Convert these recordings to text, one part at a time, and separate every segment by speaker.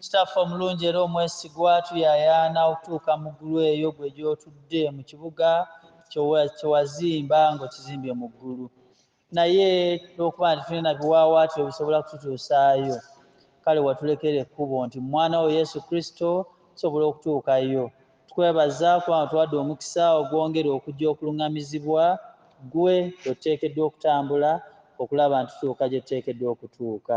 Speaker 1: Kitaffe omulungi era omwesigwa, tuyaayaana okutuuka mu ggulu eyo gwe gy'otudde, mu kibuga kyo kye wazimba ng'okizimbye mu ggulu. Naye olw'okuba nti tulina biwaawaatiro ebisobola kututuusaayo, kale watulekera ekkubo nti mu Mwana wo Yesu Kristo tusobola okutuukayo. Tukwebaza kubanga otuwadde omukisa ogwongera okujja okulung'amizibwa ggwe bwe tuteekeddwa okutambula okulaba nti tutuuka gye tuteekeddwa okutuuka.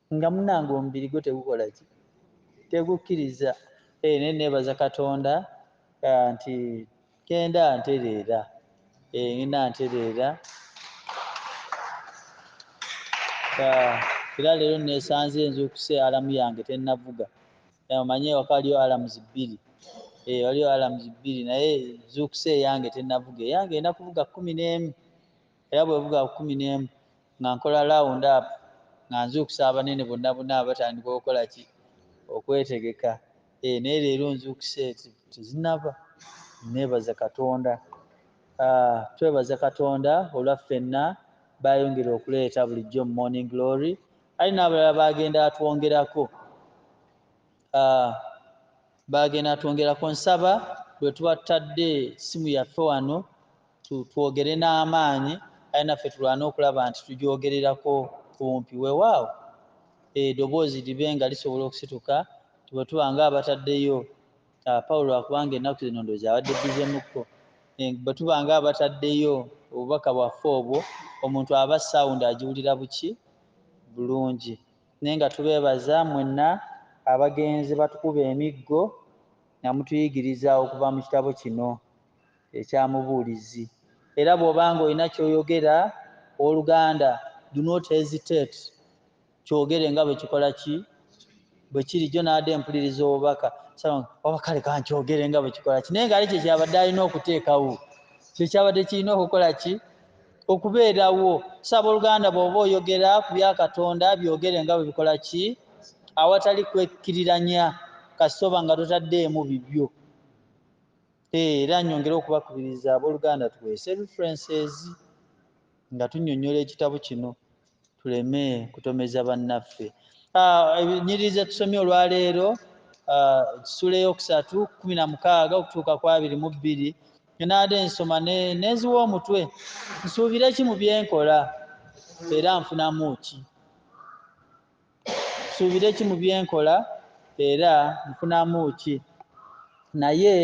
Speaker 1: nga munange omubiri gwo tegukola ki tegukkiriza eh, naye nebaza katonda eh, nti kenda ntereera eh, ngenda ntereera ah, era leero nesanze nzuukuse alamu yange tenavuga omanye ewaka waliyo alamuzi bbiri waliyo alamuzi bbiri naye nzuukuse eyange tenavuga eyange ena kuvuga kumi n'emu era bwe buba kkumi n'emu nga nkola laawundi apu nga nzuukusa abanene bonna bonna abatandika okukola ki okwetegeka eh, naye leero nzuukuse tezinaba nebaza katonda ah, twebaza katonda olwa ffenna bayongera okuleeta bulijjo mu morning glory ali n'abalala bagenda atwongerako ah, Baagenda twongerako nsaba bwetuba tutadde ssimu yaffe wano tu twogere n'amaanyi kale naffe tulwane okulaba nti tugyogererako kumpi wewaawo e doboozi libe nga lisobola okusituka nti bwetuba nga abataddeyo a power lwakuba nga ennaku zino ndoozi abadde busy mukko e bwetuba nga abataddeyo obubaka bwaffe obwo omuntu aba sound agiwulira buki bulungi. Naye nga tubeebaza mwenna abagenze batukuba emiggo nga mutuyigiriza okuva mu kitabo kino ekya Mubuulizi. Era bw'oba nga olina ky'oyogera, ow'oluganda, do not hesitate, kyogere nga bwe kikola ki? Bwe kiri. Jjo nabadde mpuliriza obubaka, nsaba nga, oba kale ka nkyogere nga bwe kikola ki? Naye ng'ate kye kyabadde alina okuteekawo, kye kyabadde kirina okukola ki? okubeerawo so abooluganda bw'oba oyogera ku bya katonda byogere nga bwe bikola ki awatali kwekkiriranya kasita oba nga totaddeemu bibyo eh, era nyongere okubakubiriza abooluganda tuweese references nga tunnyonnyola ekitabo kino tuleme kutomeza bannaffe ah, enyiriri zetusomye olwaleero ah, ekisula eyokusatu kumi na mukaaga okutuuka ku abiri mu bbiri enaade nsoma neziwa omutwe nsuubire ki mu byenkola era nfunamu ki nsuubire ki mu bye nkola era nfunamu ki? Naye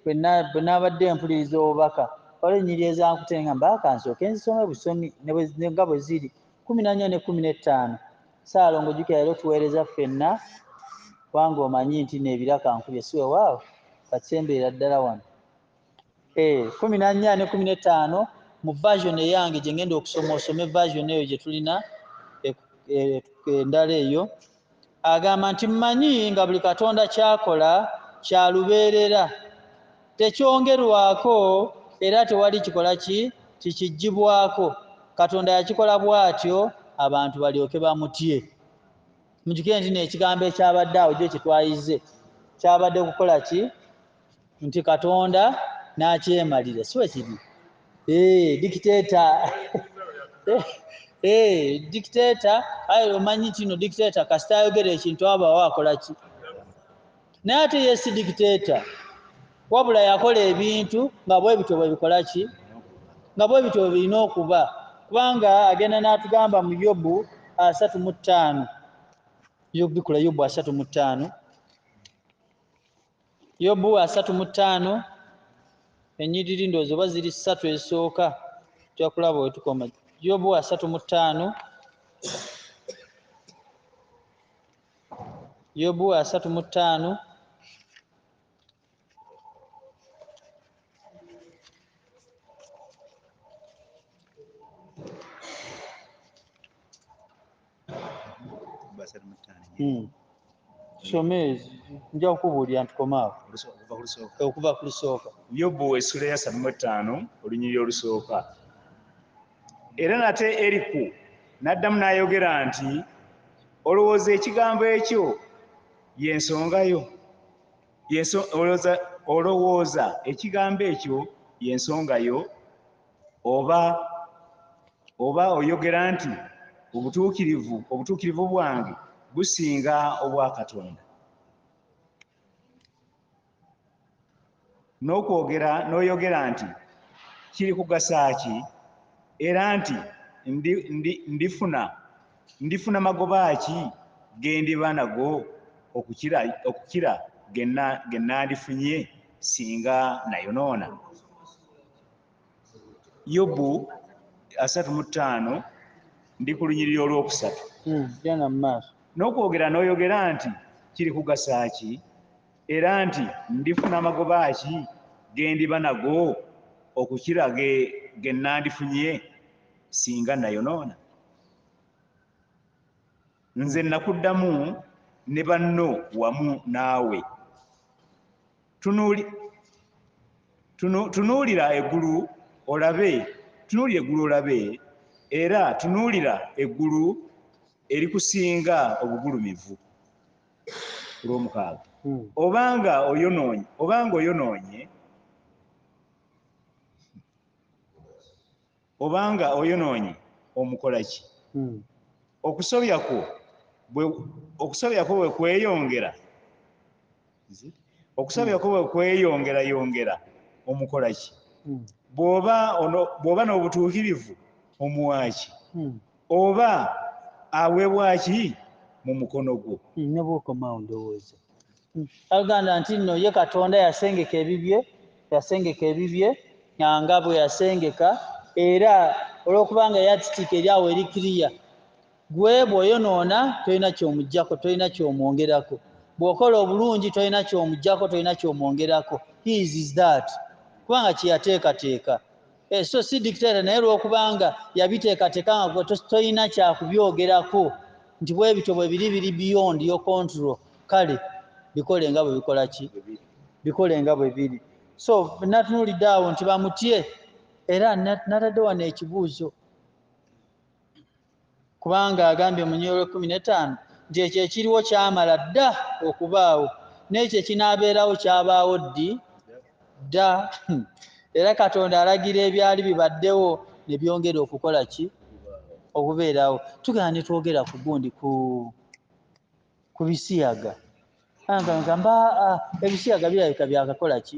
Speaker 1: bwe nabadde mpuliriza obubaka, waliwo ennyiriri ezankute ne ŋŋamba, Ka nsooke nzisome busoni nga bwe ziri, kkumi na nnya ne kkumi n'ettaano. Ssaalongo, jjukira leero tuweereza ffenna, kubanga omanyi nti nneebira kankubye, si weewaawo? Kati semberera ddala wano. eh, kumi na nnya ne kumi n'ettaano mu version eyange gye ngenda okusoma osome version eyo gye tulina e, e, e, endala eyo agamba nti mmanyi nga buli katonda kyakola kya lubeerera tekyongerwako era tewali kikola ki kikigibwako katonda yakikola bw'atyo abantu balyoke bamutye mujukire nti neekigambo ekyabadde awo gyo kyetwayize kyabadde kukola ki nti katonda nakyemalira si wekiri eh, dikiteta eh, eh, dikiteta aye omanyi kino dikiteta kasita ayogera ekintu abawo akolaki naye ate yesi dikiteta wabula yakola ebintu nga bwebityo bwebikolaki nga bwebityo bwebirina okuba kubanga agenda natugamba mu yobu asatu mu ttaano yobikula yobu asatu mu ttaano yobu asatu mu ttaano enyiriri ndoozi oba ziri ssatu ezisooka tujja kulaba wetukoma yobu asatu mu ttaano yobu asatu mu ttaano Hmm. some ezo nja kukubuulira nti komaawo okuva ku lusooka yobu esula ya
Speaker 2: samu ettaano olunyiri olusooka era nate eriku n'addamu n'ayogera nti olowooza ekigambo ekyo y'ensonga yo olowooza ekigambo ekyo y'ensonga yo oba oba oyogera nti obutuukirivu obutuukirivu bwange businga obwa katonda n'okwogera n'oyogera nti kiri kugasa ki era nti ndifuna ndifuna magoba ki ge ndiba nago okukira okukira ge nnandifunye singa nayonoona yobu asatu mu ttaano ndi ku lunyiriri olwokusatu hmm, genda mu maaso n'okwogera n'oyogera nti kiri kugasa ki era nti ndifuna amagoba ki ge ndiba nago okukira ge ge nandifunye singa nayonoona nze nakuddamu ne banno wamu naawe tunuulira eggulu olabe tunuulira eggulu olabe era tunuulira eggulu erikusinga obugulumivu olwomukaaga hmm. obanga oyonoonye obanga oyonoonye obanga oyonoonye omukola ki hmm. okusobya kwo okusobya kwo bwe kweyongera okusobya kwo bwe kweyongera yongera omukola ki hmm. bwoba bwoba n'obutuukirivu omuwaaki hmm. oba aweebwaki mu mukono gwo nobwokomawo
Speaker 1: ndowooza Aganda nti nno ye Katonda yasengeka ebibye, yasengeka ebibye nga bwe yasengeka era olw'okubanga yatitiika eri awo eri kiriya gwe bw'oyonoona tolina ky'omugyako, tolina ky'omwongerako, bw'okola obulungi tolina ky'omugyako, tolina ky'omwongerako, he is that kubanga kye yateekateeka. Eh, so si dictator naye lwokubanga yabiteekateka nga gwe tolina kyakubyogerako nti bwebityo bwebiri biri beyond yo control kale bikole nga bwebikola ki bikole nga bwebiri so natunulidde awo nti bamutye era natadde wano ekibuuzo kubanga agambye mu nnyiriri ekkumi n'ettaano nti ekyo ekiriwo kyamala dda okubaawo n'ekyo ekinaabeerawo kyabaawo ddi dda era katonda alagira ebyali bibaddewo ne byongera okukola ki okubeerawo tugenda ne twogera ku gundi ku ku bisiyaga gamba ah, ebisiyaga birabika byakakola ki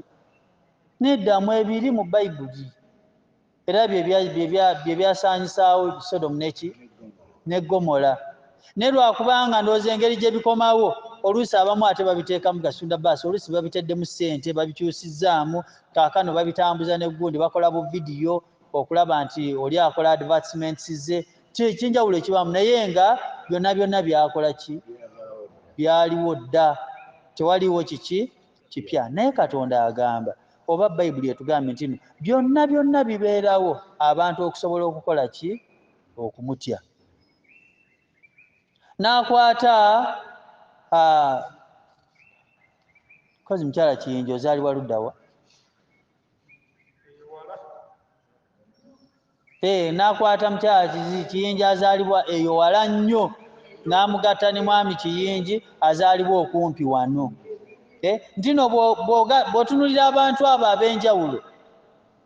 Speaker 1: nedda mwebiri mu bayibuli era bye byasaanyisaawo sodomu neki ne gomola naye lwakubanga ndowooza engeri gye bikomawo oluusi abamu ate babiteekamu gasunda baasi oluusi babiteddemu ssente babikyusizzaamu kaakano babitambuza ne gundi bakola bu vidiyo okulaba nti oli akola advertisements ze kyenjawulo ekibaamu naye nga byonna byonna byakola ki byaliwo dda tewaliwo kiki kipya naye katonda agamba oba bayibuli etugambye nti no byonna byonna bibeerawo abantu okusobola okukola ki okumutya n'akwata kozi mukyala kiyinja ozaalibwa luddawa Eeh nakwata mukyala kizi kiyinji azalibwa eyo wala nnyo namugatta ne mwami kiyinji azalibwa okumpi wano eh, ntino bwotunulira abantu abo abenjawulo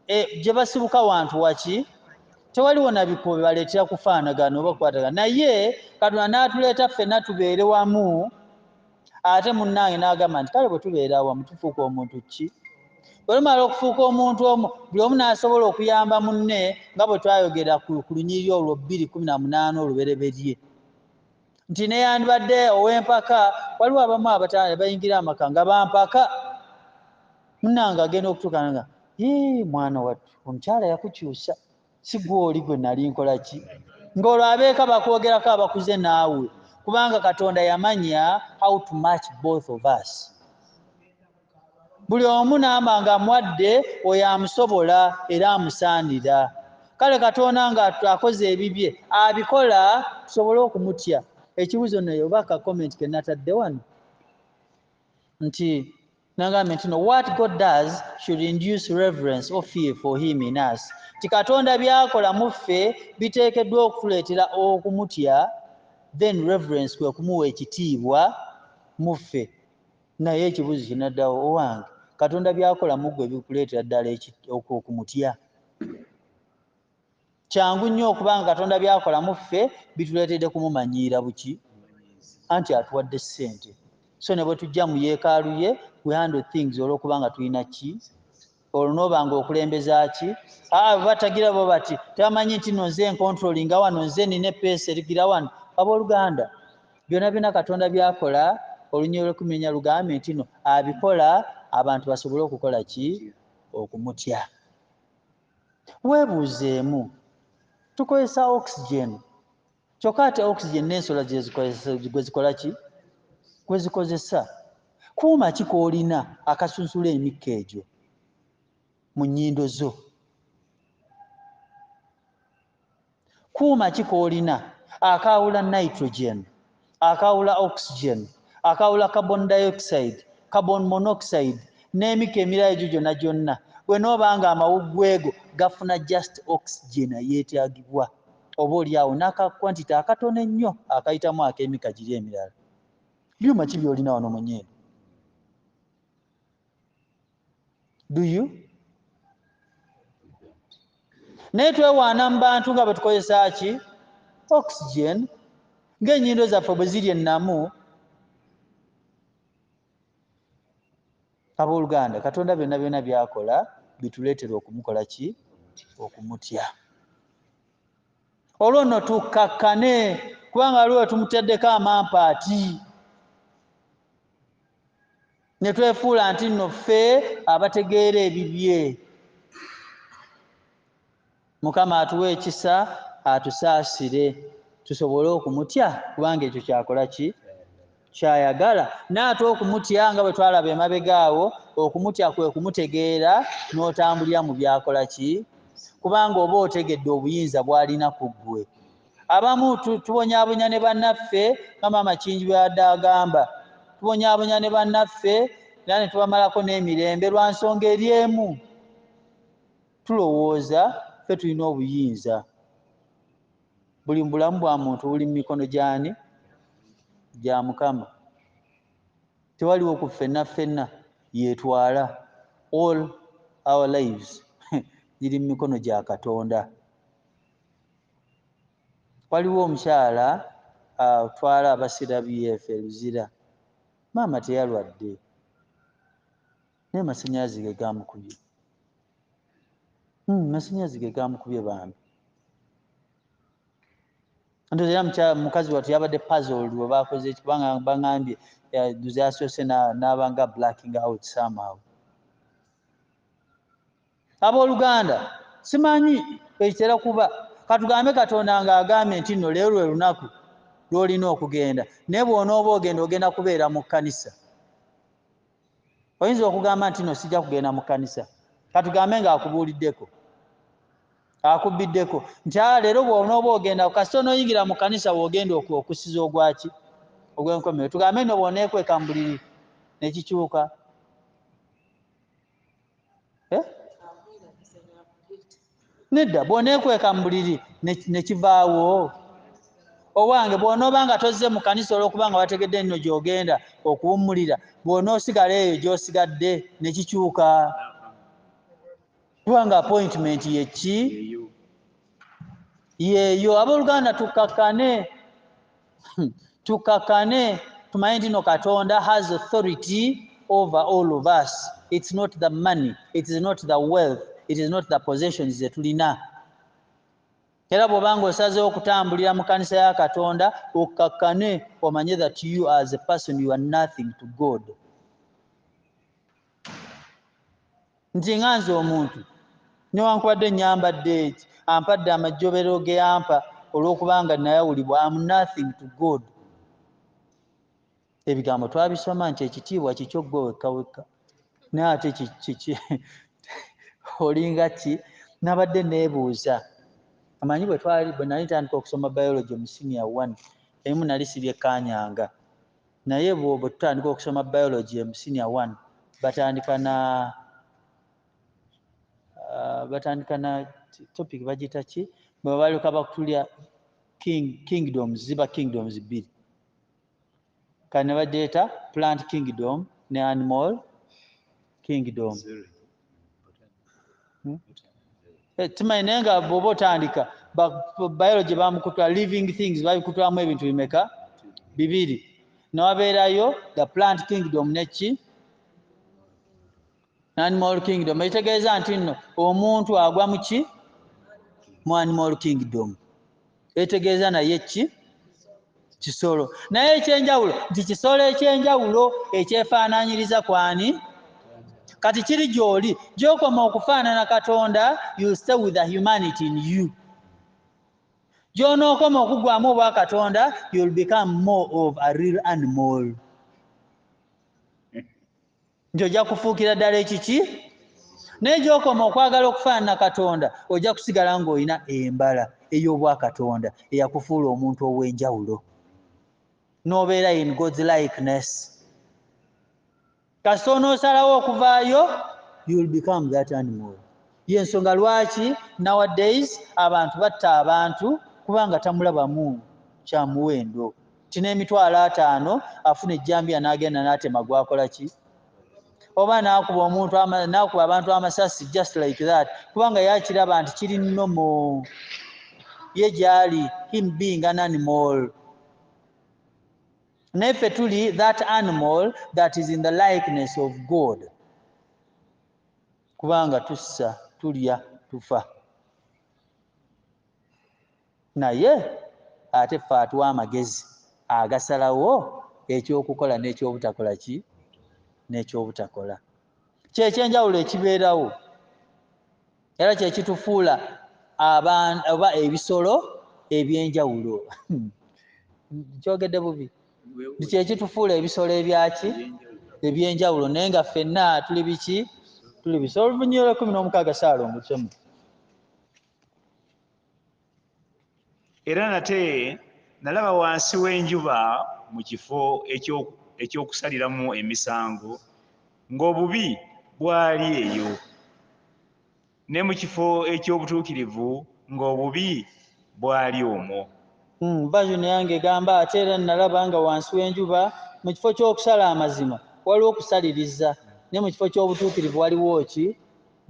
Speaker 1: eh, jebasibuka wantu waki tewaliwo nabikubo bebaletera kufaanagana oba kukwatagana naye katonda natuleeta ffena tubeere wamu ate munnange n'agamba nti kale bwe tubeera awamu tufuuka omuntu ki bwe tumala okufuuka omuntu omu buli omu n'asobola okuyamba munne nga bwe twayogera ku lunyiriri olwo bbiri kumi na munaana olubereberye nti neyandibadde ow'empaka waliwo abamu abatanda bayingira amaka nga bampaka munnange agenda okutuuka nga mwana wattu omukyala yakukyusa sigwoli gwe nali nkola ki ng'olwo abeeka bakwogerako abakuze naawe kubanga katonda yamanya how to match both of us buli omu namba nga mwadde oyo amusobola era amusaanira kale katonda nga akoze ebibye abikola tusobole okumutya ekibuzo naye oba ka comment kenatadde wano nti nagambye nti no what god does should induce reverence or fear for him in us ti katonda byakola mu ffe biteekeddwa okutuleetera okumutya then reverence kwe kumuwa ekitiibwa mu ffe naye ekibuuzo kinaddawo owange katonda byakola mu ggwe bikuleetera ddala okumutya kyangu nnyo okuba nga katonda byakola mu ffe bituleetedde kumumanyiira buki anti atuwadde ssente so ne bwe tujja mu yeekaalu ye we handle things olw'okuba nga tulina ki olwo nooba nga okulembeza ki aa batagira bo bati tebamanyi nti no nze enkontroli nga wano nze nina epeesa erigira wano abooluganda byonna byonna katonda byakola olunyiro lwekumenya lugambe nti no abikola abantu basobole okukola ki okumutya Weebuuzeemu, Tukozesa oxygen, kyokka ate oxygen n'ensolo gwe zikola ki? Gwe zikozesa. Kuuma ki k'olina akasunsula emikka egyo mu nnyindo zo? kuuma ki koolina akaawula nitrogen akaawula oxygen akaawula carbon dioxide carbon monoxide n'emika emirala egyo gyonna gyonna bwe nooba nga amawuggweego gafuna just oxygen eyeetaagibwa oba oli awo n'aka kwantite akatono ennyo akayitamu ak'emika giri emirala byuma ki by'olina wano mu nyindo do you naye twewaana mu bantu nga bwe tukozesa ki oxygen ng'ennyindo zaffe bwe ziri ennamu abooluganda katonda byonna byonna byakola bituleetera okumukola ki okumutya olwo nno tukkakkane kubanga waliwo wetumuteddeko amampaati ne twefuula nti nno ffe abategeera ebibye mukama atuwa ekisa atusaasire tusobole okumutya kubanga ekyo kyakola ki kyayagala naate okumutya nga bwe twalaba emabega awo okumutya kwe kumutegeera n'otambulira mu byakola ki kubanga oba otegedde obuyinza bw'alina ku ggwe Abamu tu, tubonyabonya ne bannaffe, nga Maama Kingi bwe yabadde agamba. Tubonyabonya ne bannaffe, era ne tubamalako n'emirembe, lwa nsonga eri emu. Tulowooza ffe tulina obuyinza. Buli mu bulamu bwa muntu buli mu mikono gy'ani? Gya Mukama. Tewaliwo ku ffenna ffenna yeetwala. All our lives giri mu mikono gya Katonda. waliwo omukyala atwala aba CWF e Luzira, maama teyalwadde naye masannyalaze ge gaamukubye. Hmm, masannyalaze ge gaamukubye bambi. Ndoza era mukyala mukazi wattu yabadde puzzled we baakoze ki kubanga bangambye yasoose n'aba nga blacking out somehow. Abooluganda, simanyi bwe kitera kuba, ka tugambe Katonda nga agambye nti nno leero lwe lunaku lw'olina okugenda, naye bw'onooba ogenda, ogenda kubeera mu kkanisa. Oyinza okugamba nti, Nno sijja kugenda mu kkanisa. Ka tugambe nga akubuuliddeko, akubbiddeko, nti, Aa, leero bw'onooba ogenda, kasita onooyingira mu kkanisa w'ogenda oku, okussiza ogwa ki? Ogw'enkomerero. Tugambe nno bw'oneekweka mu buliri ne kikyuka. eh? nedda bwonekweka mu buliri nekivaawo owange bwonooba nga tozze mu kanisa olwokuba nga wategedde nno gyogenda okuwummulira bwonoosigala eyo gyosigadde nekikyuka kubanga appointment yekki yeeyo abooluganda tukkakkane hmm. tukkakkane tumanye nti no katonda has authority over all of us it's not the money it is not the wealth it is not the possessions zetulina era bwoba nga osazeewo okutambulira mu kanisa ya katonda okkakkane omanye that you as a person you are nothing to god nti nga nze omuntu newankubadde nyambadde eki ampadde amajjobero geyampa olw'okubanga nayawulibwa am nothing to god ebigambo twabisoma nti ekitiibwa kikyo gwe wekka wekka naye ate kiki olinga ki nabadde nebuuza amanyi bwetwali bwenali ntandika okusoma biology mu senior one emu nali sibyekanyanga Naye bwo bwe tutandika okusoma biology emu senior one batandika na uh, batandika na topic bagita ki bwe babaluka bakutulya king kingdoms ziba kingdoms bbiri kane bajeeta plant kingdom ne animal kingdom hmm? eh, timanyi naye nga bwoba otandika biology bamukutula living things babikutulamu ebintu bimeka bibiri newabeerayo the plant kingdom neki animal kingdom ekitegeeza nti nno omuntu agwa muki mu animal kingdom etegeeza naye ki kisolo naye ekyenjawulo nti kisolo ekyenjawulo ekyefaananyiriza kwani kati kiri gyoli gyokoma okufaanana katonda you stay with the humanity in you gyonookoma okugwamu obwa katonda you'll become more of a real animal nti ojja kufuukira ddala ekiki naye gyokoma okwagala okufaanana katonda ojja kusigala ng'olina embala ey'obwakatonda eyakufuula omuntu ow'enjawulo n'obeera in god's likeness kasita onoosalawo okuvaayo you'll become that animal yensonga lwaki nowadays abantu batta abantu kubanga tamulabamu kyamuwendo kino emitwalo ataano afuna ejjambiya n'agenda n'atema gwakola ki oba n'akuba omuntu n'akuba abantu amasasi just like that kubanga yakiraba nti kiri nomo ye gyali him being an animal naye ffe tuli that animal that is in the likeness of god kubanga tussa tulya tufa Naye ate ffe atuwa amagezi agasalawo eky'okukola n'eky'obutakola ki? N'eky'obutakola. Kye ky'enjawulo ekibeerawo era kye kitufuula abantu oba ebisolo eby'enjawulo. Nkyogedde bubi? Nti kye kitufuula ebisolo ebyaki? Eby'enjawulo naye nga ffenna tuli biki? Tuli bisolo. Olunyirira ekkumi n'omukaaga Ssaalongo Ssemu.
Speaker 2: era nate nalaba wansi w'enjuba mu kifo eky'okusaliramu emisango ng'obubi bwali eyo, ne mu kifo eky'obutuukirivu ng'obubi bwali omwo. Hmm, version
Speaker 1: yange egamba ate era nalaba nga wansi w'enjuba mu kifo ky'okusala amazima waliwo okusaliriza, ne mu kifo ky'obutuukirivu waliwo ki?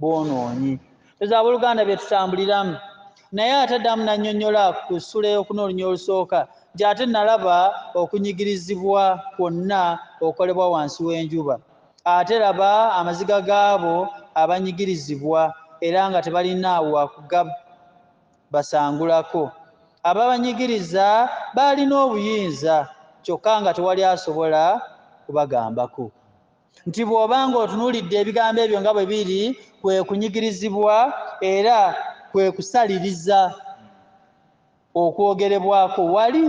Speaker 1: bwonoonyi ezo abooluganda bye tutambuliramu naye ate addamu n'annyonnyola ku ssula ey'okuna olunya olusooka nti ate nalaba okunyigirizibwa kwonna okukolebwa wansi w'enjuba ate laba amaziga gaabo abanyigirizibwa era nga tebalina wakugabasangulako ababanyigiriza baalina obuyinza kyokka nga tewali asobola kubagambako nti bw'oba ng'otunuulidde ebigambo ebyo nga bwe biri kwe kunyigirizibwa era kwe kusaliriza okwogerebwako wali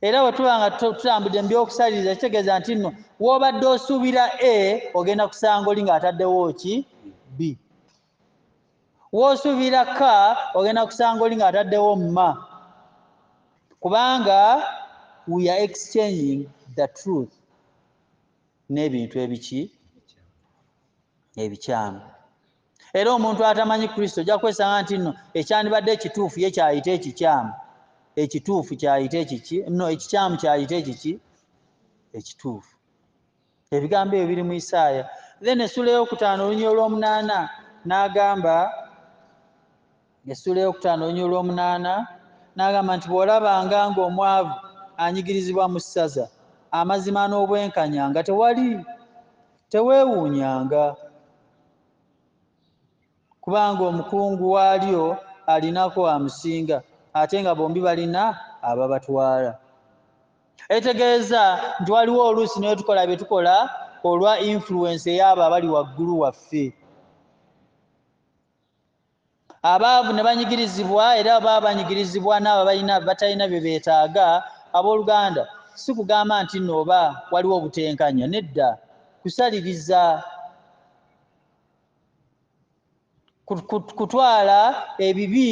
Speaker 1: era bwe tuba nga tutambudde mu by'okusaliriza kitegeeza nti nno w'obadde osuubira a ogenda kusanga oli ng'ataddewo ki b wosubira ka ogenda kusanga oli ng'ataddewo mma kubanga we are exchanging the truth n'ebintu ebiki ebikyamu era omuntu atamanyi kristo ojja kwesanga nti no ekyandibadde ekituufu ye kyayita ekikyamu ekituufu kyayita ekiki no ekikyamu kyayita ekiki ekituufu ebigambo ebyo biri mu isaaya then essula eyokutaano olunya olwomunaana n'agamba essula eyokutaano olunya olwomunaana n'agamba nti bw'olabanga ng'omwavu anyigirizibwa mu ssaza amazima n'obwenkanya nga tewali teweewuunyanga kubanga omukungu waalyo alinako amusinga ate nga bombi balina ababatwala etegeeza nti waliwo oluusi netukola byetukola olwa influence eyaabo abali waggulu waffe abaavu ne banyigirizibwa era baba banyigirizibwa naabo balina batalina bye beetaaga abooluganda si kugamba nti nno oba waliwo obutenkanya nedda kusaliriza kutwala ebibi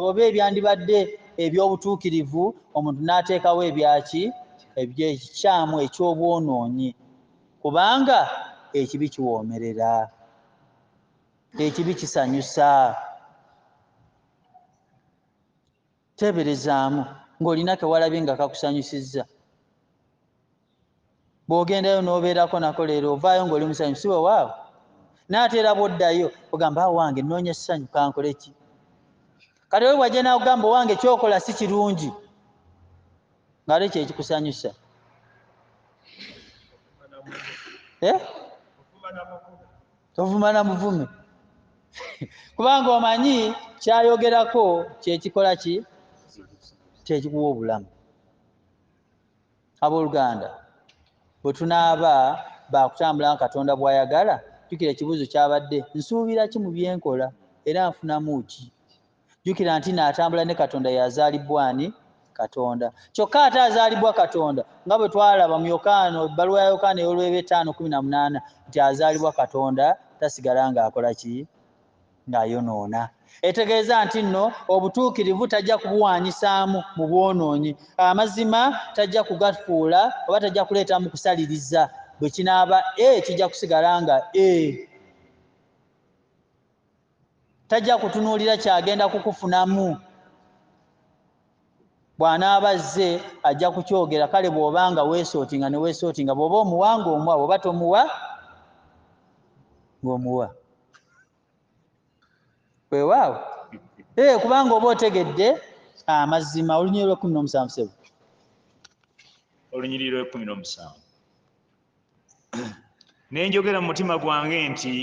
Speaker 1: oba ebyandibadde eby'obutuukirivu omuntu n'ateekawo ebyaki ebyekikyamu eky'obwonoonyi kubanga ekibi kiwoomerera ekibi kisanyusa teeberezaamu ng'olina ke walabye nga kakusanyusizza bw'ogendayo n'obeerako nako leero ovaayo ng'oli musanyufu si wewaawo naate era bw'oddayo ogamba awo ah, wange nnoonya essanyu kankole ki kati oli bwajja naakugamba owange kyokola si kirungi ng'ate kyekikusanyusa eh? tovuma na muvume kubanga omanyi kyayogerako kyekikola ki kyekikuwa obulamu abooluganda bwe tunaaba baakutambula nga katonda bw'ayagala jjukira ekibuuzo kyabadde nsuubira ki mu byenkola era nfunamu ki jjukira nti naatambula ne katonda yazaalibwa ani katonda kyokka ate azaalibwa katonda nga bwe twalaba mu yokaana ebbaluwa ya yokaana ey'olweba etaano kumi na munaana nti azaalibwa katonda tasigala ng'akola ki ng'ayonoona etegeeza nti nno obutuukirivu tajja kubuwaanyisaamu mu bwonoonyi amazima tajja kugafuula oba tajja kuleetamu kusaliriza bwe kinaaba e kijja kusigala nga e tajja kutunuulira kyagenda kukufunamu bw'anaaba azze ajja kukyogera kale bw'oba nga weesootinga ne weesootinga bw'oba omuwa ng'omuwa bw'oba tomuwa ng'omuwa weewaawo ee eh, kubanga oba otegedde amazima ah, olunyiri lw'ekkumi n'omusanvu sebo
Speaker 2: olunyiriri lw'ekkumi n'omusanvu nenjogera mu mutima gwange nti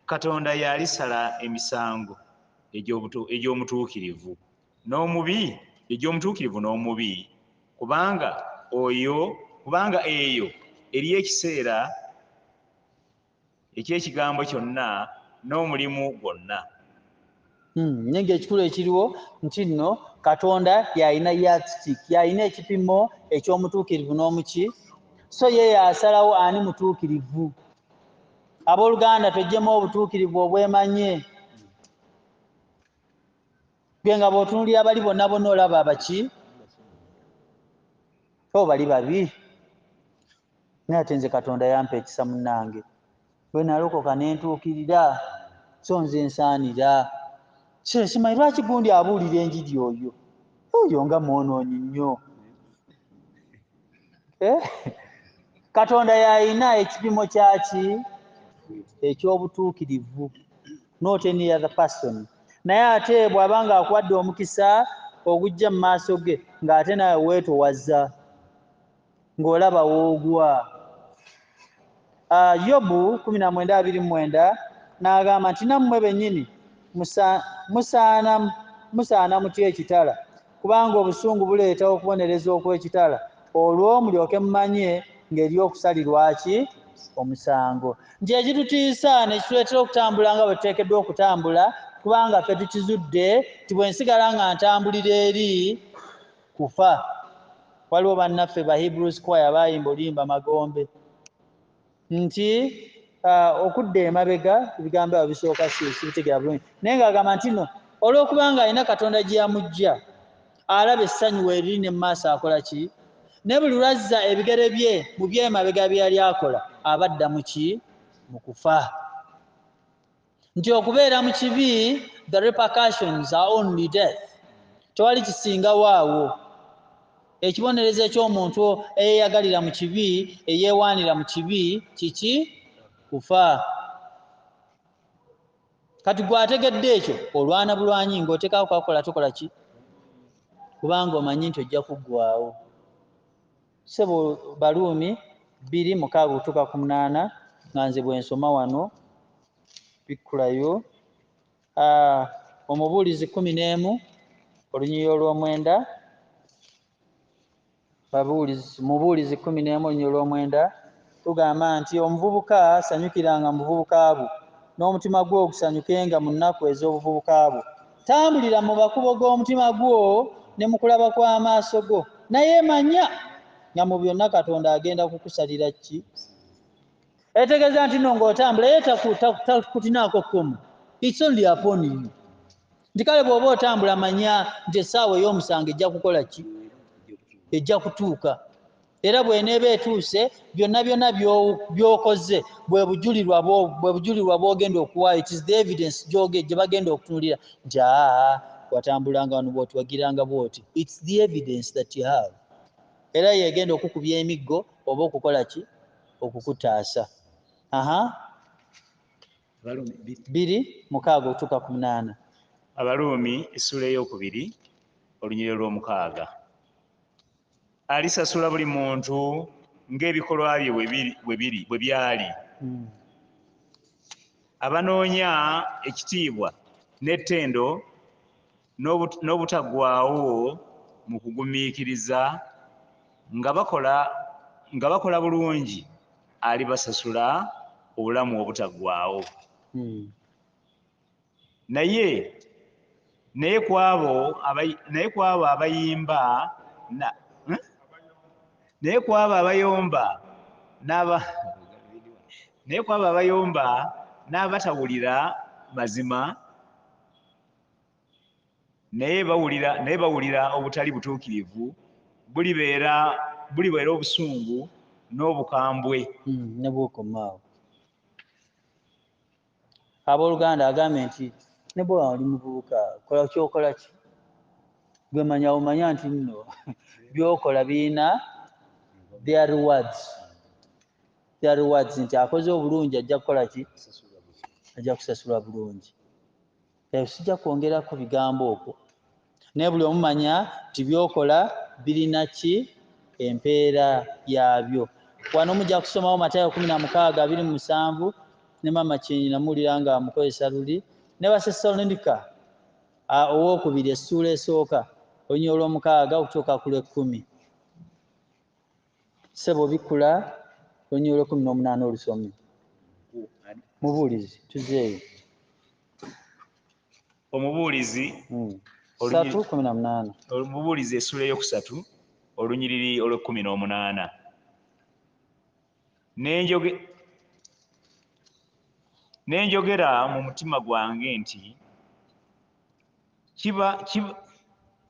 Speaker 2: katonda yalisala emisango egyomutuukirivu n'omubi egyomutuukirivu n'omubi kubanga oyo kubanga eyo eriyo ekiseera eky'ekigambo kyonna n'omulimu gwonna hmm,
Speaker 1: naye ng'ekikulu ekiriwo nti nno katonda yalina yatstik yalina ekipimo eky'omutuukirivu n'omuki so ye yasalawo ani mutuukirivu abooluganda twejjemu obutuukirivu obwemanye gwe nga bw'otunulira bali bonna bonna olaba abaki o bali babi naye ate nze katonda yampa ekisa munange bwe nalokoka nentuukirira so nze nsaanira simanyi lwaki gundi abuulira enjiri oyo oyo nga mwonoonyi nnyo eh? katonda yalina ekipimo kyaki ekyobutuukirivu not any other person naye ate bw'aba nga akuwadde omukisa ogujja mu maaso ge ng'ate nawe weetowaza ng'olaba woogwa ah, yobu 19:29 n'agamba nti nammwe bennyini musaana musaana mutya ekitala kubanga obusungu buleeta okubonereza okw'ekitala olwo mulyoke mumanye ng'eri okusalirwa ki omusango nti ekitutiisa nekituleetera okutambula nga bwe tuteekeddwa okutambula kubanga ffe tukizudde nti bwe nsigala nga ntambulira eri kufa waliwo bannaffe ba hebrew squire baayimba oluyimba magombe nti uh, okudda emabega ebigambo abo bisooka sibitegera bulungi naye ng'agamba nti no olw'okuba ng'alina katonda gye yamujja alaba essanyu weeriri ne mu maaso akola ki ne buli lwazza ebigere bye mu byemabega bye yali akola abadda mu ki mu kufa nti okubeera mu kibi the repercussions are only death tewali kisingawo awo ekibonerezo ekyomuntu eyeyagalira mu kibi eyewaanira mu kibi kiki kufa kati gwategedde ekyo olwana bulwanyi ngaotekawo kwakola tokola ki kubanga omanyi nti ojja kuggwawo sebo baluumi bbiri mukaaga okutuuka ku munaana nga nze bwensoma wano bikkulayo ah, omubuulizi kumi n'emu olunyiriri olw'omwenda mubuulizi kumi n'emu olunyiriri olw'omwenda Tugamba nti omuvubuka sanyukiranga mu buvubuka bwo, n'omutima gwo gusanyukenga mu nnaku ez'obuvubuka bwo. Tambulira mu makubo g'omutima gwo ne mu kulaba kw'amaaso go, naye manya nga mu byonna Katonda agenda kukusalira ki. Etegeeza nti no ng'otambula ye takutinaako kkomo, it's only upon you. Nti kale bw'oba otambula manya nti essaawa ey'omusango ejja kukola ki? Ejja kutuuka. era bw'eneeba etuuse byonna byonna by'okoze bwe bujulirwa bwo bwe bujulirwa bw'ogenda okuwaayo it is the evidence gyoge gye bagenda okutunulira nti aa watambulanga wano bwoti wagiranga bwoti its the evidence that you have era yegenda okukubya emiggo oba okukola ki okukutaasa aha biri mukaaga otuuka ku munaana abaruumi
Speaker 2: essuula ey'okubiri olunyiriro lw'omukaaga alisasula buli muntu ng'ebikolwa bye bwe byali hmm. abanoonya ekitiibwa n'ettendo n'obutaggwaawo mu kugumiikiriza nga bakola nga bakola bulungi alibasasula obulamu obutaggwaawo hmm. naye naye kwabo naye kwabo abayimba eh? naye kwabo abayomba n'aba naye kwabo abayomba n'abatawulira mazima naye bawulira naye bawulira obutali butuukirivu bulibeera bulibeera obusungu n'obukambwe mm,
Speaker 1: nebwokomaawo Abooluganda, agambye nti ne bwe wali muvubuka kola ky'okola ki gwe manya omanya nti nno by'okola birina their rewards their rewards nti akoze obulungi ajja kukola ki ajja kusasulwa bulungi. ebyo sijja kwongerako bigambo okwo naye buli omumanya nti byokola birina ki empeera yaabyo wano mujja kusomawo matayo kumi na mukaaga biri mu musanvu ne mama kinyi namuwulira nga amukozesa luli ne basesalonika owokubiri essuula esooka olunya olwomukaaga okutuuka ku lwekkumi sebo bikula olunyulo lwekumi nomunaana olusome mubuulizi tuzeeyo
Speaker 2: omubuulizi hmm. satu
Speaker 1: kumi na munaana omubuulizi
Speaker 2: esula eyokusatu olunyiriri olwekumi nomunaana nenjoge nenjogera mu mutima gwange nti kiba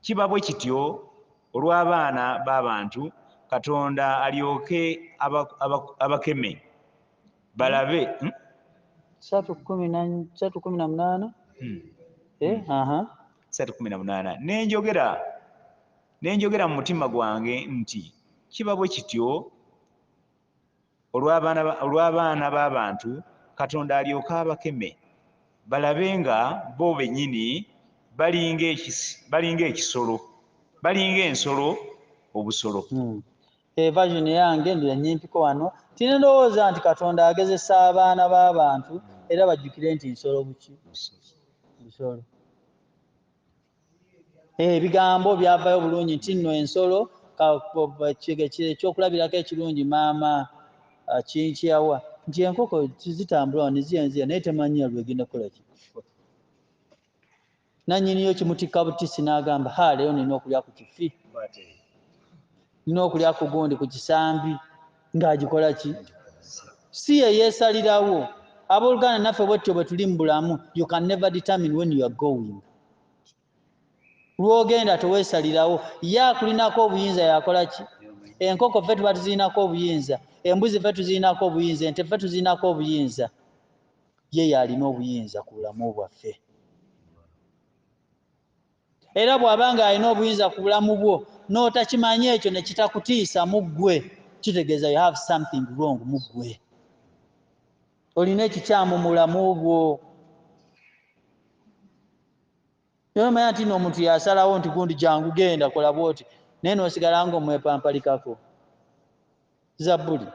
Speaker 2: kiba bwe kityo olw'abaana b'abantu katonda alyoke abakeme balabe hmm? satu kumi na
Speaker 1: satu kumi na munana hmm. eh, hmm. aha
Speaker 2: satu kumi na munana nenjogera nenjogera mu mutima gwange nti kiba bwe kityo olw'abaana b'abantu katonda alyoke abakeme balabe nga bo bennyini balinga ekisolo balinga ensolo obusolo hmm.
Speaker 1: evasioni eh, yange ndira nyimpiko wano tine ndowooza nti katonda agezesa abaana b'abantu era bajjukire nti nsolo buki nsolo Eh, ebigambo byavayo bulungi nti nno ensolo ekyokulabirako ekirungi maama ah, kinkyawa nti enkoko zitambula niziyanziya naye temanyiya lwegenda kukolaki nanyiniyo kimutikka butisi n'agamba ha leero nina okulya ku kifi nina okulya ku gundi ku kisambi ng'agikola ki si ye yeesalirawo abooluganda naffe bwettyo bwe tuli mu bulamu you can never determine when you are going lw'ogenda teweesalirawo ye akulinako obuyinza yakola ki enkoko ffe tuba tuzirinako obuyinza embuzi ffe tuzirinako obuyinza ente ffe tuzirinako obuyinza ye yaalina obuyinza ku bulamu bwaffe Era bw'aba ng'alina obuyinza ku bulamu bwo n'otakimanya ekyo ne kitakutiisa mu ggwe, kitegeeza you have something wrong mu ggwe. Olina ekikyamu mu bulamu bwo. Naye omanya nti n'omuntu yasalawo nti gundi jangu genda kola bwoti naye n'osigala ng'omwepampalikako. zabbuli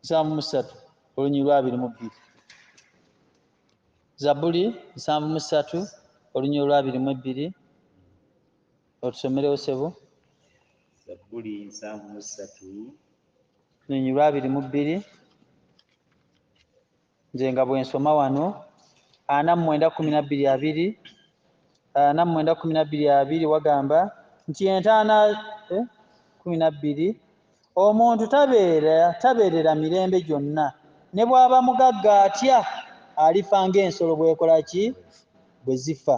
Speaker 1: nsanvu mu ssatu olunyiri lwa abiri mu bbiri zabbuli nsanvu mu ssatu olunyiri lwa abiri mu ebbiri otusomerewo sebo zabbuli
Speaker 2: nsanvu mu ssatu olunyiri
Speaker 1: lwa abiri mu bbiri nze nga bwensoma wano ana mu mwenda kumi nabbiri abiri ana mu mwenda kumi nabbiri abiri wagamba nti entaana eh, kumi nabbiri omuntu tabeera tabeerera mirembe gyonna ne bw'aba mugagga atya alifa ng'ensolo bwekola ki bwe zifa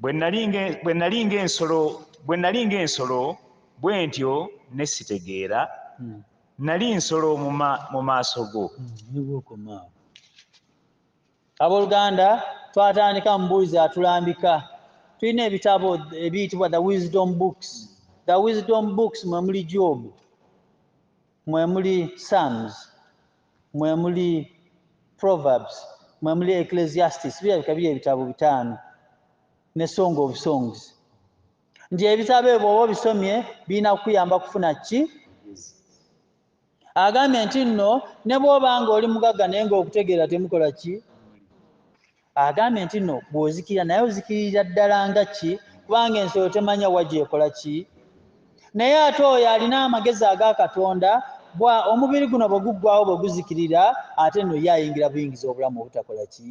Speaker 2: bwe nali ng'ensolo bwe nali ng'ensolo bwe ntyo ne sitegeera hmm. nali nsolo mu maaso go hmm,
Speaker 1: abooluganda twatandika mubuuzi atulambika tulina ebitabo ebiyitibwa the wisdom books the wisdom books mwe muli jobu mwe muli sams mwemuli proverbs mwemuli ecclesiastis birabika biri ebitabo bitaano ne song of songs nti ebitabo ebyo oba obisomye birina kukuyamba kufuna ki agambye nti nno ne bwoba nga oli mugagga naye nga okutegeera temukola ki Agambye nti no bwozikirira naye ozikiririra ddala nga ki kubanga ensolo temanya wa gyekola ki naye ate oyo alina amagezi aga Katonda bwa omubiri guno bwe guggwawo bwe guzikirira ate nno ye ayingira buyingiza obulamu obutakola ki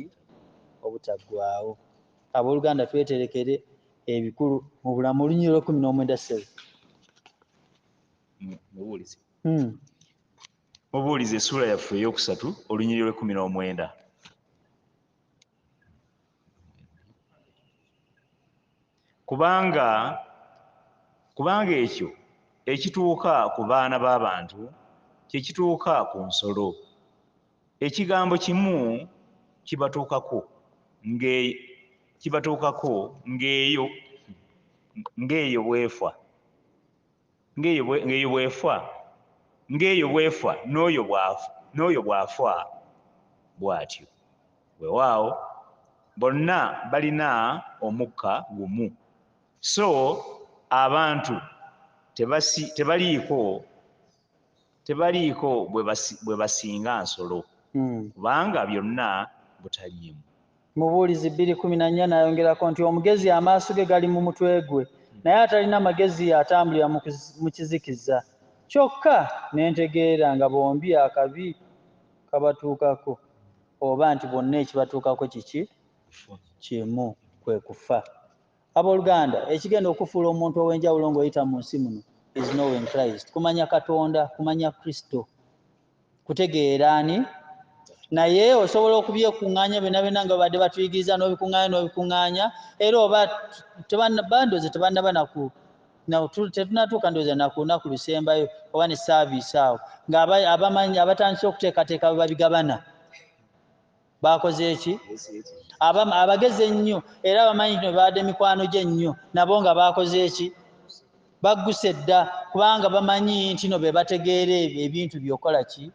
Speaker 1: obutaggwawo. Abooluganda tweterekere ebikulu mu bulamu olunyiriri olw'ekkumi n'omwenda ssebo. Mubuulizi.
Speaker 2: Hmm. Mubuulizi essuula yaffe ey'okusatu olunyiriri lw'ekkumi n'omwenda. Kubanga kubanga ekyo ekituuka ku baana b'abantu kye kituuka ku nsolo. Ekigambo kimu kibatuukako nge kibatuukako ng'eyo ng'eyo bw'efa. ng'eyo bw'efa, ng'eyo bw'efa, n'oyo bw'afa, n'oyo bw'afa bw'atyo. Weewaawo, bonna balina omukka gumu. So abantu tebasi, tebaliiko. tebaliiko bwe basinga nsolo hmm. kubanga byonna butaliimu. Mubuulizi
Speaker 1: bbiri kumi na nnya n'ayongerako nti omugezi amaaso ge gali mu mutwe gwe hmm. naye atalina magezi atambulira mu kizikiza kyokka ne ntegeera nga bombi akabi kabatuukako oba nti bonna ekibatuukako kiki kimu kwe kufa. Aboluganda, ekigenda okukufuula omuntu ow'enjawulo ng'oyita mu nsi muno is knowing Christ. Kumanya Katonda, kumanya Kristo. Kutegeera ani? Naye osobola okubyekung'anya byonna byonna nga babadde batuyigiriza n'obikung'anya n'obikung'anya era oba bandoozi tebannaba naku tetunatuuka ndooza nakunaku lusembayo oba ne saaviisi awo ng'abamanyi abatandise okuteekateeka bwe babigabana baakoze eki abamu abagezi ennyo era abamanyi nti baade mikwano gye nnyo nabo nga baakoze eki bagguse dda kubanga bamanyi nti no be bategeera ebintu byokola ki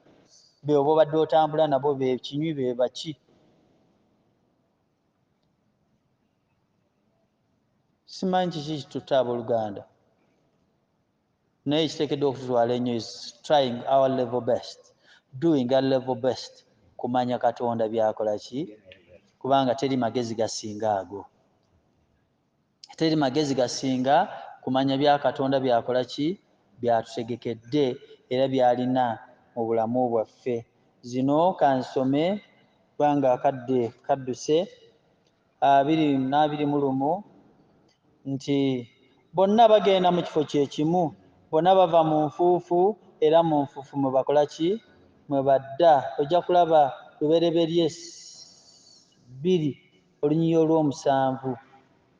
Speaker 1: beoba obadde otambula nabo bekinywi be baki simanyi kiki kitutta abooluganda naye ekiteekeddwa okututwala ennyo is trying our level best doing our level best kumanya katonda byakola ki kubanga teri magezi gasinga ago teri magezi gasinga kumanya bya katonda byakola ki byatutegekedde era byalina mu bulamu bwaffe zino kansome kubanga akadde kadduse abiri n'abiri mu lumu nti bonna bagenda mu kifo kye kimu, bonna bava mu nfuufu era mu nfuufu mwe bakola ki? Mwe badda. Ojja kulaba Lubereberye bbiri olunyiriri olw'omusanvu,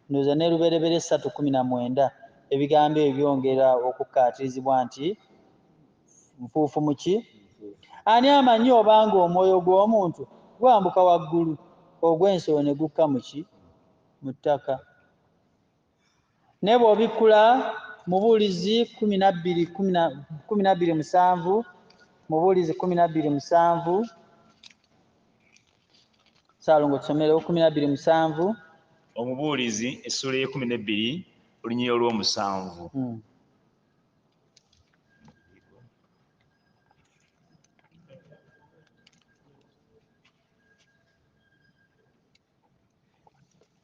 Speaker 1: ndowooza ne Lubereberye ssatu kkumi na mwenda, ebigambo ebyo byongera okukkaatirizibwa nti nfuufu mu ki? Ani amanyi obanga omwoyo gw'omuntu gwambuka waggulu ogw'ensolo ne gukka mu ki? Mu ttaka. Naye bw'obikkula Mubuulizi kkumi na bbiri kkumi na bbiri musanvu Mubuulizi kkumi na bbiri musanvu Saalongo tusomerewo kkumi na bbiri musanvu Omubuulizi
Speaker 2: essuula ey'ekkumi n'ebbiri olunyiriri olw'omusanvu. Hmm.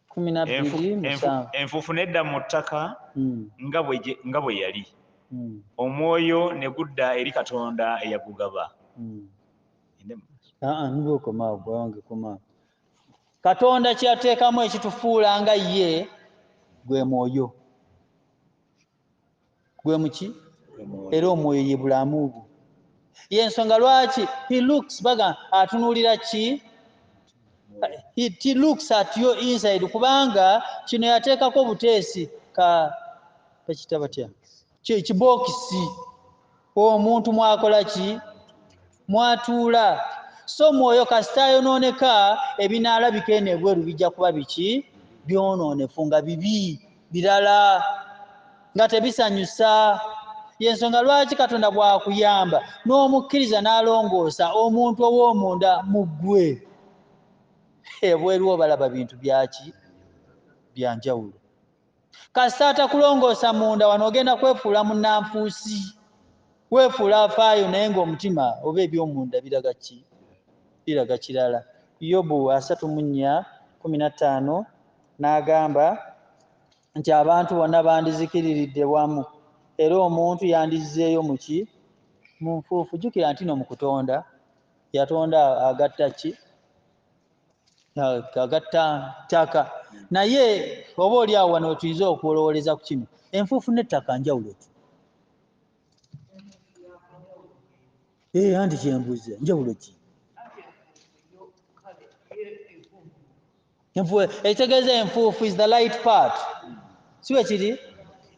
Speaker 2: kumi na bbiri Enfu- enfu- musanvu enfuufu nedda mu ttaka Mm, nga bwe gye- nga bwe yali mm, omwoyo ne gudda eri katonda eyagugaba mm. Aa, nibwe okomaawo gwange
Speaker 1: komaawo katonda kyeyateekamu ekitufuula nga ye gwe mwoyo gwe muki era omwoyo ye bulamu bwo yensonga lwaki he looks baga atunuulira ki he looks at your inside kubanga kino yateekako obuteesi ka bakita batya kibookisi omuntu mwakola ki mwatuula so mwoyo kasita ayonooneka ebinaalabika eno ebweru bijja kuba biki byonoonefu nga bibi birala nga tebisanyusa yensonga lwaki katonda bwakuyamba n'omukkiriza n'alongoosa omuntu ow'omunda mu ggwe ebweru obalaba bintu byaki byanjawulo Kasita atakulongoosa munda wano ogenda kwefuula munnanfuusi, weefuula afaayo naye ng'omutima oba eby'omunda biraga ki? Biraga kirala. Yobu asatu mu nnya kkumi na ttaano n'agamba nti abantu bonna bandizikiriridde wamu era omuntu yandizzeeyo mu ki? Mu nfuufu. Jjukira ntino mu kutonda yatonda agatta ki? agatta ttaka naye oba oli awo wano wetuyinza okulowooleza ku kino enfuufu n'ettaka njawulo ki ee eh, anti kyembuze njawulo ki ekitegeeza enfuufu is the light part si bwe kiri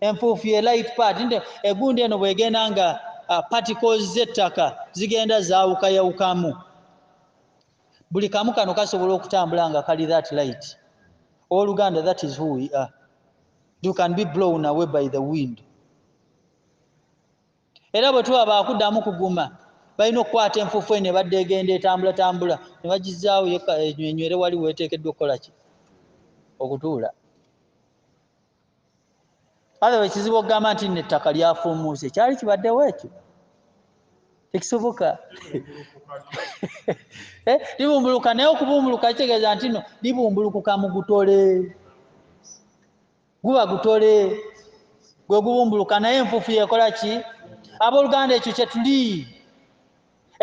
Speaker 1: enfuufu ye light part nti egundi eno bwegenda nga ah, particles z'ettaka zigenda zaawukayawukamu buli kamu kano kasobola okutambula nga kali that light oluganda that is who we are you can be blown away by the wind era bwe tuba baakuddamu kuguma balina okukwata enfuufu eno ebadde egenda etambulatambula ne bagizaawo yenywere wali weeteekeddwa okukola ki okutuula alawa ekizibu okugamba nti nno ettaka lyafuumuuse kyali kibaddewo ekyo tekisoboka eh, libumbuluka naye okubumbuluka kitegeeza nti no libumbulukuka mu gutole guba gutole gwe gubumbuluka naye enfuufu yekola ki abooluganda ekyo kyetuli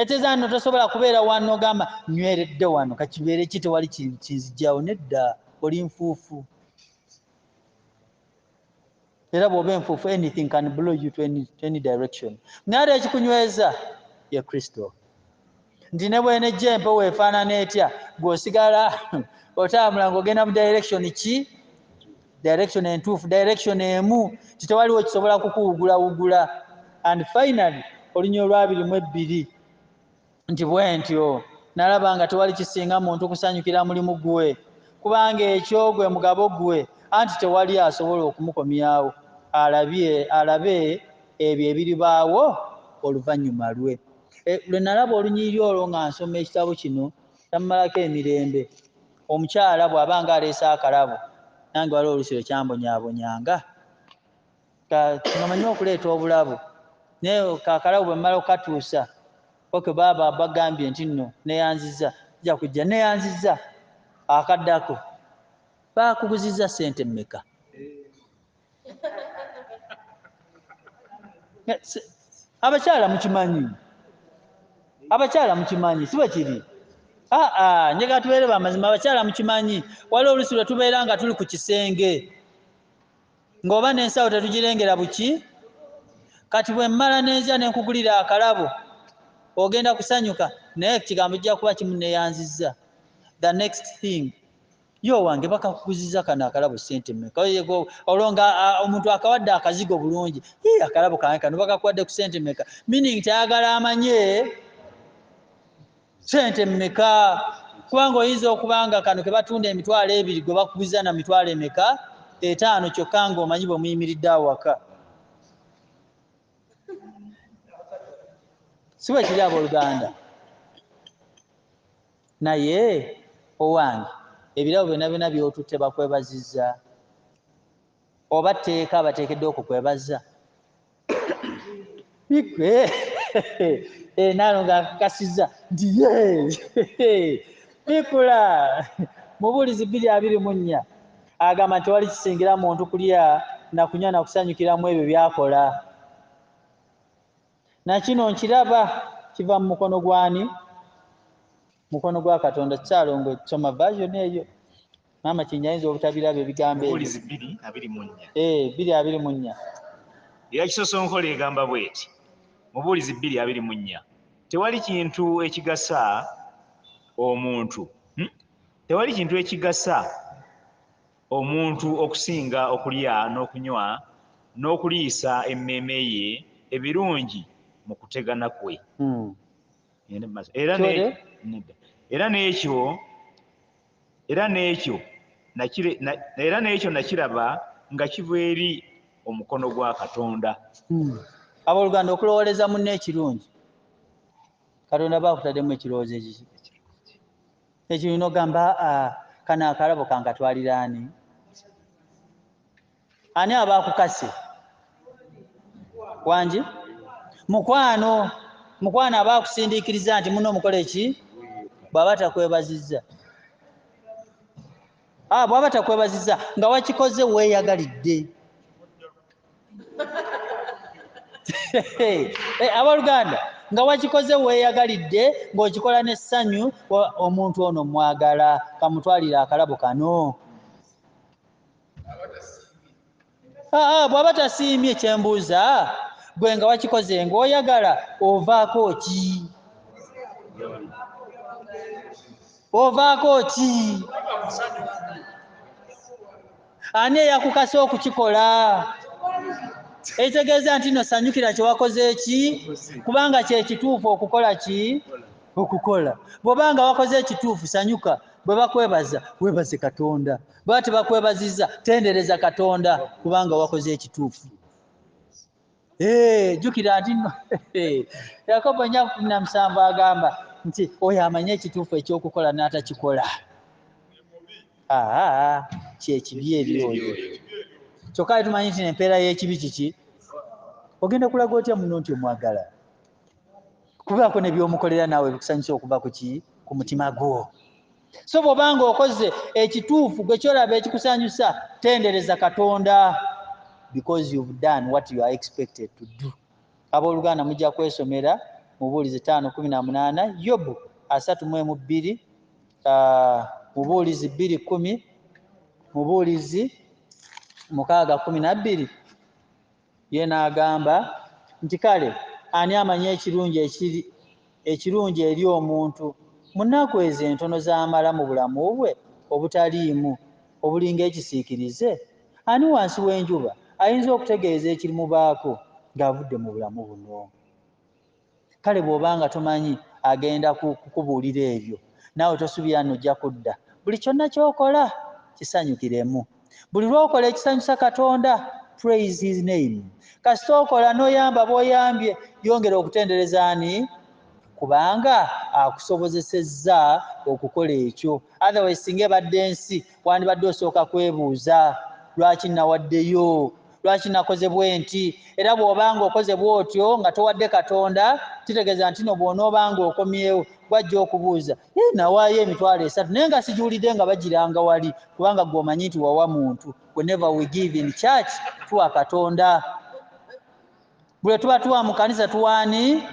Speaker 1: eteeza nno tosobola kubeera wano ogamba nyweredde wano kakibeere ki tewali kinzijawo nedda oli nfuufu era bw'oba enfuufu anything can blow you to any, to any direction naye ate ekikunyweza ye kristo nti ne bwenejja empewo efaanana etya gweosigala otambula ng'ogenda mu direction ki direction entuufu direction emu ti tewaliwo kisobola kukuwugulawugula and finally olunya olwabiri mu ebbiri nti bwentyo nalaba nga tewali kisinga muntu kusanyukira mulimu gwe kubanga ekyo gwe mugabo gwe anti tewali asobola okumukomyawo alabye alabe ebyo ebiribaawo oluvannyuma lwe e, lwe nalaba olunyiriri olwo nga nsoma ekitabo kino tammalako emirembe omukyala bw'aba nga aleese akalabo nange waliwo olusi lwe kyambonyaabonyanga ngamanyi okuleeta obulabo naye kakalabo bwemala okukatuusa ok baaba bagambye nti nno neyanziza ja kujja neyanziza akaddako bakuguziza sente meka abakyala mukimanyi abakyala mukimanyi si bwe kiri aa ah, ah, njagala tubeere bamazima abakyala mukimanyi waliwo olusi lwe tubeera nga tuli ku kisenge ng'oba n'ensawo tetugirengera buki kati bwe mmala n'enja ne nkugulira akalabo ogenda kusanyuka naye ekigambo kijja kuba kimuneyanzizza the next thing yo wange bakakuguziza kano akalabo ssente mmeka olwo nga omuntu akawadde akazigo bulungi i akalabo kange kano bakakuwadde ku ssente mmeka meaning tayagala amanye sente mmeka kubanga oyinza okuba nga kano ke batunda emitwalo ebiri gwe bakuguza na mitwalo emeka etaano kyokka ng'omanyi bwe muyimiridde awaka si bwe kiri abooluganda naye owange ebirabo byonna byonna by'otutte bakwebaziza oba tteeka abateekedde okukwebazza bigwe eh, naano nga akakasizza nti ye bikula mubuulizi bbiri abiri mu nnya agamba nti tewali kisingira muntu kulya na kunywa na kusanyukiramu ebyo byakola na kino nkiraba kiva mu mukono gwani mukono gwa katonda kikyalongo soma version eyo maama kinyi ayinza obutabiraba ebigambo ebuulizi bbiri abiri munya
Speaker 2: ee eh, bbiri abiri munya era kisosonkola egamba bweti mubuulizi bbiri abiri munya tewali kintu ekigasa omuntu hmm? tewali kintu ekigasa omuntu okusinga okulya n'okunywa n'okuliisa emmeeme ye ebirungi mu kutegana kwe hmm. era n'ekyo era n'ekyo era n'ekyo nakiraba nga kiva eri omukono gwa katonda hmm.
Speaker 1: abooluganda okulowooleza munne ekirungi katonda aba akutaddemu ekirowoozo ekiki ekirungi nogamba ah, kano akarabo kankatwaliraani ani aba akukase wangi mukwano mukwano aba akusindiikiriza nti muno omukola eki bw'aba takwebazizza ah, bw'aba takwebazizza nga wakikoze weeyagalidde eh, abaluganda nga wakikoze weeyagalidde ng'okikola n'essanyu omuntu ono mwagala kamutwalire akalabo kano aa bw'aba tasiimye kyembuuza gwe nga wakikoze ng'oyagala ovaako ki ovaako ki ani eyakukasa okukikola ekitegeeza nti no sanyukira kyewakoze ki kubanga kyekituufu okukola ki okukola bw'oba nga wakoze ekituufu sanyuka bwe bakwebaza webaze katonda bwati bakwebaziza tendereza katonda kubanga wakoze ekituufu eh, jukira nti no yakobo nyamusanvu agamba nti oyo amanye ekituufu ekyokukola n'atakikola kyekibi ebyoyo kyokka ali tumanyi nti nempeera y'ekibi kiki ogenda kulaga otya muno nti omwagala kubaako nebyomukolera naawe bikusanyusa okuva kuki ku mutima gwo so bw'oba ng'okoze ekituufu gwe kyolaba ekikusanyusa tendereza katonda because you've done what you are expected to do abooluganda mujja kwesomera mubuulizi taano kumi na munaana yobu asatu mu emu bbiri ah, mubuulizi bbiri kumi mubuulizi mukaaga kumi na bbiri ye n'agamba nti kale ani amanyi ekirungi ekiri ekirungi eri omuntu mu nnaku ezo entono z'amala mu bulamu bwe obutaliimu obulinga ekisiikirize? Ani wansi w'enjuba ayinza okutegeeza ekirimubaako ng'avudde mu bulamu buno? kale bwoba nga tomanyi agenda kukubuulira ebyo naawe tosubira nojja kudda buli kyonna kyokola kisanyukiremu buli lwokola ekisanyusa katonda praise his name kasita okola noyamba boyambye yongera okutendereza ani kubanga akusobozesezza okukola ekyo otherwise singa ebadde ensi wandibadde osooka kwebuuza lwaki nawaddeyo Lwaki nakoze bwenti? Era bw'oba nga okoze bw'otyo nga towadde Katonda, kitegeeza nti no bw'onooba nga okomyewo, gw'ajja okubuuza, Yii, nawaayo emitwalo esatu naye nga sigiwulidde nga bagiranga wali, kubanga ggwe omanyi nti wawa muntu. Whenever we give in church, tuwa Katonda. bwe tuba tuwa mu kanisa tuwaani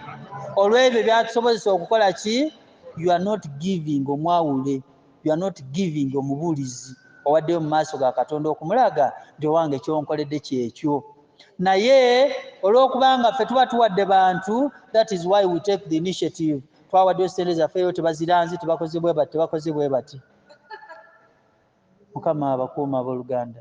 Speaker 1: olw'ebyo byatusobozesa okukola ki you are not giving omwawule you are not giving omubuulizi owaddeyo mu maaso ga katonda okumulaga nti owange kyonkoledde kyekyo naye olw'okubanga ffe tuba tuwadde bantu that is why we take the initiative twawaddeyo sente zaffeyo tebaziranzi tebakoze bwe bati tebakoze bwe bati mukama abakuuma ab'oluganda